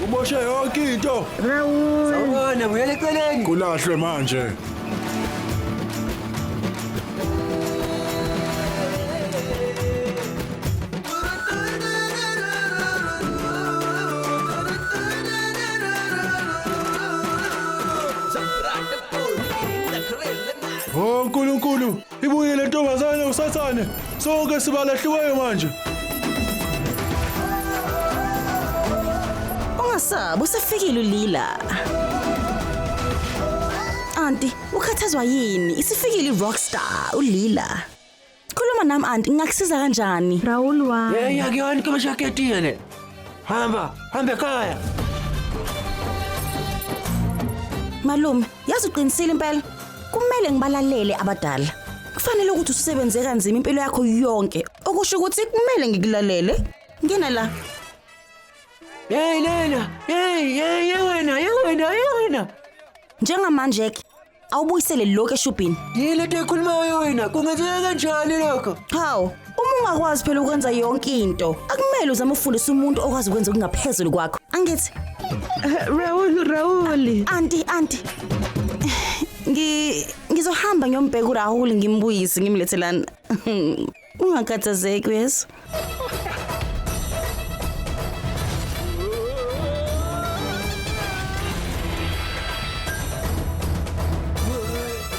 Uboshe yonke into. Sawubona, buyela eceleni. Kulahlwe manje. Oh, Nkulunkulu. Ibuye le ntombazane usathane. Sonke sibalahliweyo manje. Ungasabi usefikile ulila. Auntie, ukhathazwa yini? Isifikile i-rockstar ulila. Khuluma nami auntie, ngingakusiza kanjani? Raul wami. Hey, yakuyona kama jacket yene. Hamba, hamba ekhaya. Malume, yazi uqinisile impela kumele ngibalalele abadala kufanele ukuthi ususebenze kanzima impilo yakho yonke okusho ukuthi kumele ngikulalele ngena la Hey Lena, hey hey hey wena, hey wena, hey wena. njengamanje ke awubuyisele lokho eshubhini Yini lento ekhulumayo wena? Kungenzeka kanjani lokho? hawu Uma ungakwazi phela ukwenza yonke into, akumele uzame ukufundisa umuntu okwazi ukwenza okungaphezulu kwakho. Angithi, Eh, Raul, Raul. anti, anti. Ngi ngizohamba ngiyombheka uRahul ngimbuyise ngimlethe lana. Ungakhathazeki yes.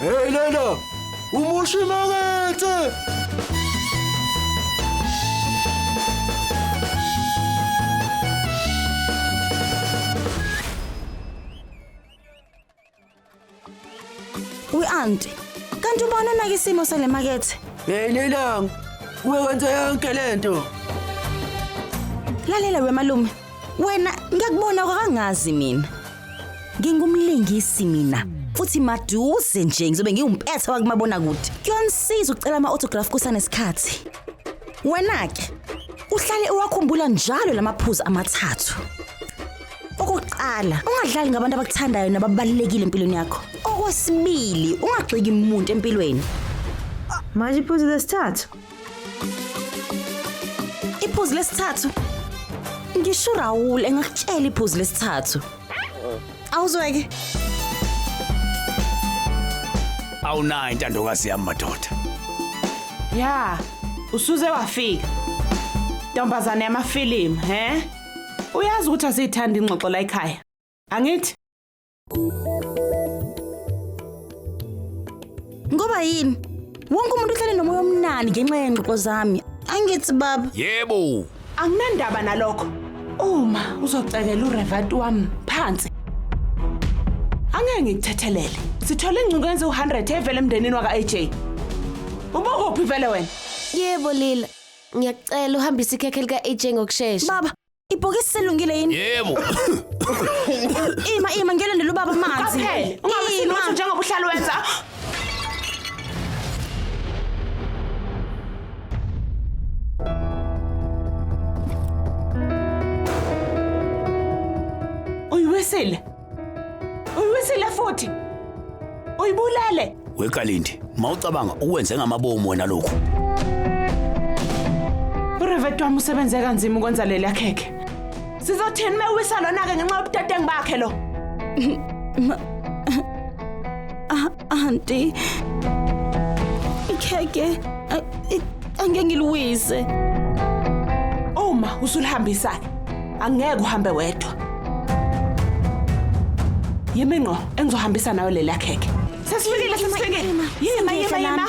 Hey Leyla! Umushi makethe! Uyi-anti. Kanti ubani onake isimo sale makethe? Hey Leyla! Uwe wenza yonke lento. Lalela wemalume. Wena ngiyakubona kwakangazi mina. Ngingumlingisi mina futhi maduze nje ngizobe ngiwumpetha wakumabona kude. Kuyonisiza ucela ama autograph kusanesikhathi. Wena ke uhlale uwakhumbula njalo lamaphuzu amathathu. Okokuqala, ungadlali ngabantu abakuthandayo nababalekile empilweni yakho. Okwesibili, ungagxeki umuntu empilweni. Manje iphuzu lesithathu Iphuzu lesithathu. Ngisho Raul engakutshela iphuzu lesithathu. Awuzweke. Awunayo intandokazi yami madoda. Ya, usuze wafika. Ntombazane yamafilimu, he? Uyazi ukuthi asiyithanda ingxoxo la ekhaya. Angithi? Ngoba yini? Wonke umuntu uhlale nomoya omnandi ngenxa yengxoxo zami. Angithi baba. Yebo. Anginandaba nalokho. Uma uzocekela uRevati wami phansi. Angeke ngikuthethelele. Sithole ingcingo yenze u100 evele emndenini waka AJ. Ubokuphi vele wena? Yebo Lila. Ngiyacela uhambise ikhekhe lika AJ ngokusheshsha. Baba, Ibhokisi selungile yini? Yebo. Ima ima ngiyolandela ubaba amanzi. Phela ungabe Ima. sinotho njengoba uhlala wenza. Uyiwesile. Uyiwisile futhi. Uyibulele. Wekalindi, mawucabanga ukwenze ngamabomu wena lokhu. Urevet wami usebenze kanzima ukwenza leli yakhekhe. Sizothini mewisa lona ke ngenxa yobudedengu bakhe lo. Aunty. Ikheke angeke ngiliwise. Uma usulihambisa angeke uhambe wedwa. Yimi ngqo engizohambisa nayo leli akheke. Sesifikile sesifikile. Yima yima yima.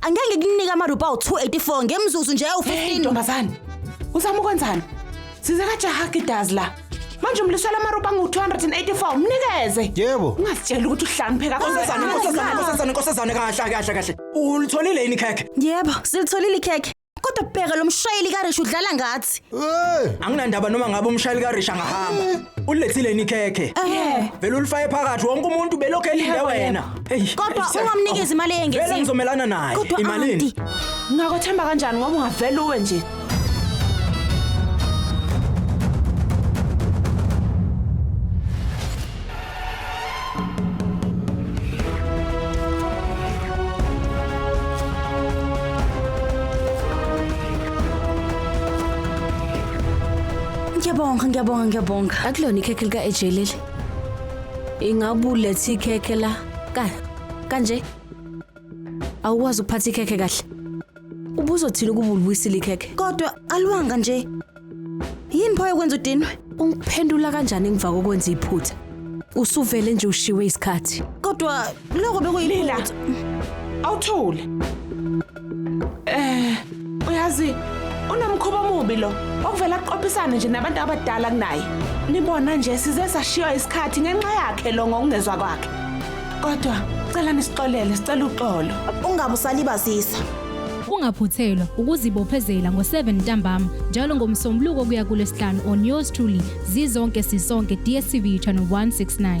Angeke ngikunike amarupa awu-284 ngemzuzu nje awu-15. Hey ntombazane. Uzama ukwenzani? Size kajaha kidazi la. Manje umlisela amarupa angu-284 mnikeze. Yebo. Ungazitshela ukuthi uhlanipheka Nkosazane, nkosazane, nkosazane, nkosazane kahle kahle kahle. Ulitholile yini ikhekhe? Yebo, silitholile ikhekhe. Kodwa bheka lo mshayeli kaRish udlala ngathi. Hey! Anginandaba noma ngabe umshayeli kaRish angahamba. Ulilethile yini ikhekhe? Eh. Vele ulifaye phakathi wonke umuntu belokhu elinde wena. Hey. Kodwa ungamnikezi imali Vele eyengeziwe. ngizomelana naye. Kodwa Imalini? auntie, Ngakwethemba kanjani ngoba ungavela uwe nje. Ngiyabonga, ngiyabonga, ngiyabonga. akulona ikhekhe lika-ej leli ingabe ulethe ikhekhe la ka kanje awukwazi ukuphatha ikhekhe kahle ubuzothini ukuba ulibuyisile ikhekhe Kodwa aliwanga nje. Yini pho yokwenza udinwe? Ungiphendula kanjani ngiva kokwenza iphutha? Usuvele nje ushiwe isikhathi. Kodwa lokho Lila. bekuyiphutha. Awuthule. Eh, uyazi unomkhuba omubi lo. Okuvela aqophisane nje nabantu abadala kunaye. Nibona nje size sashiywa isikhathi ngenxa yakhe lo ngokungezwa kwakhe. Kodwa cela nisixolele, sicela uxolo. Ungabe usalibazisa. Ungaphuthelwa ukuzibophezela ngo-7 ntambama njalo ngomsombuluko kuya kulesihlanu on yours truly zizonke sisonke DSTV channel 169.